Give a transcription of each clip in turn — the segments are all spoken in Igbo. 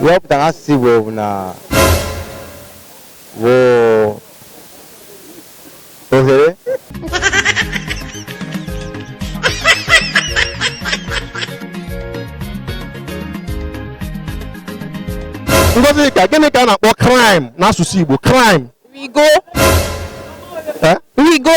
ihe ọ pụtara n'asụsụ Igbo bụ na ọ bụ ohere Ngozika gịnị ka a na-akpọ climb n'asụsụ Igbo climb rigo Eh? rigo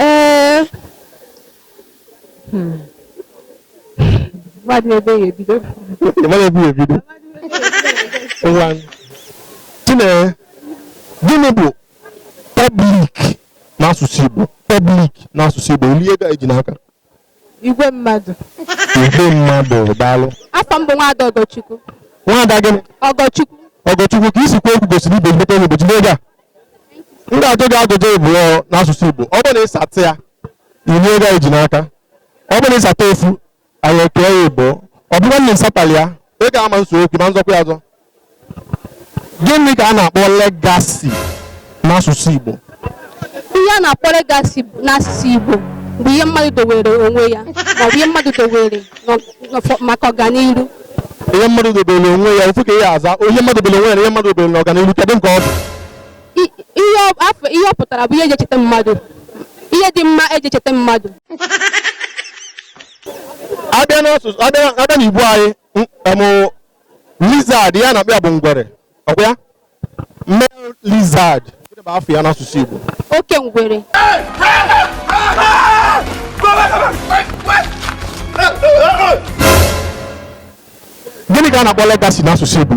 ee hmm. mmadụ ebe ya ebido mmadụ ebe ya ebido ngwa Chinyere gịnị bụ public n'asụsụ igbo public n'asụsụ igbo o lie ego anyị ji n'aka Igwe mmadụ. Igwe mmadụ daalụ. Afa m bụ Nwaada Ọgọchukwu. Nwaada gịnị? Ọgọchukwu. Ọgọchukwu ka i si kwuo okwu gosiri ị bụ ezigbote onye Igbo jide ego a. M ga-ajụ gị ajụjụ ịbụọ n'asụsụ Igbo. Ọ bụrụ na ị sata ya, i lie ego anyị ji n'aka. Ọ bụrụ na ị sata ofu, anyị ekee ya ịbụọ. Ọ bụrụ na ị sataghị ya, ị ga-ama nso okwu ma nzọkwa ya azọ. Gịnị ka a na-akpọ legacy n'asụsụ Igbo? Ihe a na-akpọ legacy n'asụsụ Igbo bụ ihe mmadụ dowere onwe ya maọbụ ihe mmadụ dowere maka ọganihu. Ihe mmadụ dobere onwe ya ofu ka ị ga-aza ihe mmadụ dobere onwe ya na ihe mmadụ dobere n'ọganihu kedu nke ọ bụ? Ihe ọ pụtara bụ ihe e ji echeta mmadụ ihe dị mma e ji echeta mmadụ a bịa n'igbo anyị Lizard ihe a na-akpọ ya bụ ngwere ọ kwa ya male lizard gịnị bụ afa ya n'asụsụ Igbo oke ngwere gịnị ka a na-akpọ legacy n'asụsụ Igbo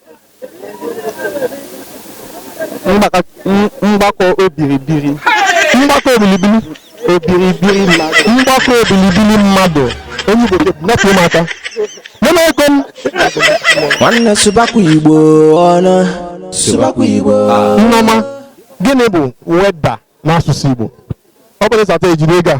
mgbakọ obiribiri mgbakọ obilibili obiribiri mmadụ mgbakọ obilibili mmadụ onye igbo napụ m aka nene ego m nwanne sụbakwa igbo ọnụ sụbakwa igbo nneọma gịnị bụ weather n'asụsụ igbo ọ bụrụ ị sata i jiri ego a